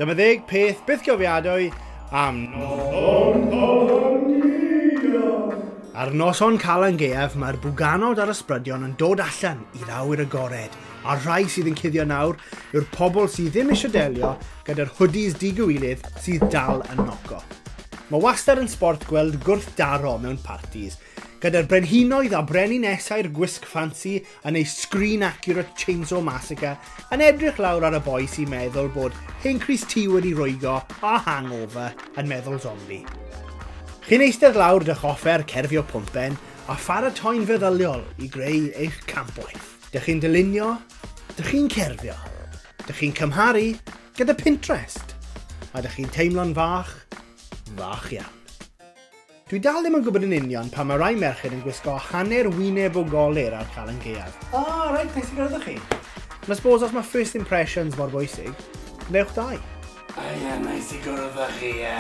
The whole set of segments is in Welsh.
Dyma ddeg peth bythgofiadwy am Noson Calangaeaf. Ar Noson Calangaeaf mae'r bwganod a'r ysbrydion yn dod allan i awyr agored, a'r rhai sydd yn cuddio nawr yw'r pobl sydd ddim eisiau delio gyda'r hoodies digywilydd sydd dal yn noco. Mae wastad yn sbort gweld gwrthdaro mewn partis, Gyda'r brenhinoedd a brenin esau'r gwisg ffansi yn ei Screen Accurate Chainsaw Massacre yn edrych lawr ar y boi sy'n meddwl bod hen crys tŷ wedi rwygo a hangover yn meddwl zombi. Chi'n eistedd lawr 'dych offer cerfio pwmpen a pharatoi'n feddyliol i greu eich campwaith. Dych chi'n dylunio, dych chi'n cerfio, dych chi'n cymharu gyda Pinterest a dych chi'n teimlo'n fach, fach iawn. Dwi dal ddim yn gwybod yn union pam mae rai merched yn gwisgo hanner wyneb o golir ar Calan Gaeaf. Ah, reit, neis i gwrdd â chi. Ond I suppose os mae first impressions mor bwysig, wnewch dau. O ie, neis i gwrdd â chi, ie.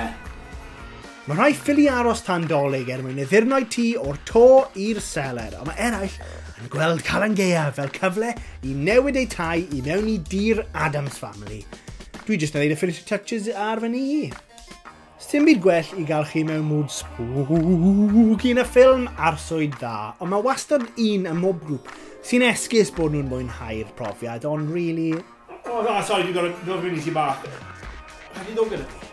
Mae rhai ffili aros tan Dolig er mwyn addurno'u tŷ o'r to i'r seler, ond mae eraill yn gweld Calan Gaeaf fel cyfle i newid eu tai i mewn i dir Adams Family. Dwi jyst yn neud y finishing touches ar fy nŷ i. Sdim byd gwell i gael chi mewn mood spooky na ffilm arswyd dda, ond mae wastad un ym mhob grŵp sy'n esgus bod nhw'n mwynhau'r profiad, ond really... Oh, oh, sorry, dwi'n gorfod dod fyny ti bach. Rhaid i ddod gyda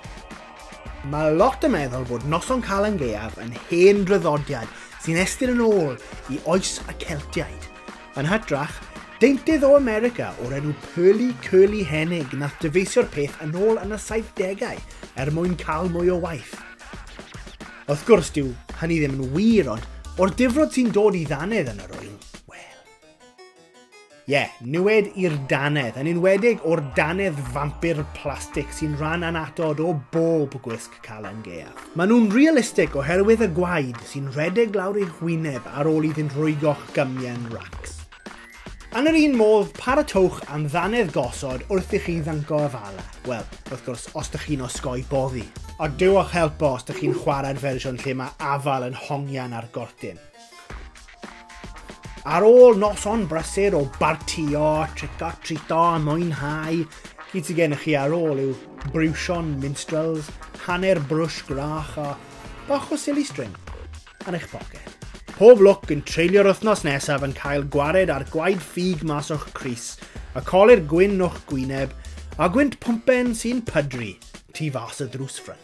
Mae lot yn meddwl bod Noson Calan Gaeaf yn hen draddodiad sy'n estyn yn ôl i oes y Celtiaid. Yn hytrach, deintydd o America o'r enw Pearly Curly Hennig nath dyfeisio'r peth yn ôl yn y 70au er mwyn cael mwy o waith. Wrth gwrs, dyw hynny ddim yn wir, ond o'r difrod sy'n dod i ddannedd yn yr wyl, wel. Ie, yeah, niwed i'r dannedd, yn enwedig o'r dannedd fampir plastig sy'n rhan anatod o bob gwisg Calan Gaeaf. Maen nhw'n realistic oherwydd y gwaed sy'n rhedeg lawr eich wyneb ar ôl iddynt rwygo'ch gymian racs. Yn yr un modd, paratowch am ddannedd gosod wrth i chi ddyncgo y fala, wel, wrth gwrs, os dych chi'n osgoi boddi. Ond dewch helpo os dych chi'n chwarae'r fersiwn lle mae afal yn hongian ar gortyn. Ar ôl noson brysur o bartio, tric-or-trîto a mwynhau, gyd sydd gennych chi ar ôl yw briwsion minstrels, hanner brwsh gwrach a bach o silly string yn eich poced. Pob lwc yn treulio'r wythnos nesaf yn cael gwared ar gwaed ffug mas o'ch crys, y colir gwyn o'ch gwyneb, a gwynt pwmpen sy'n pydru tu fas y ddrws ffrynt.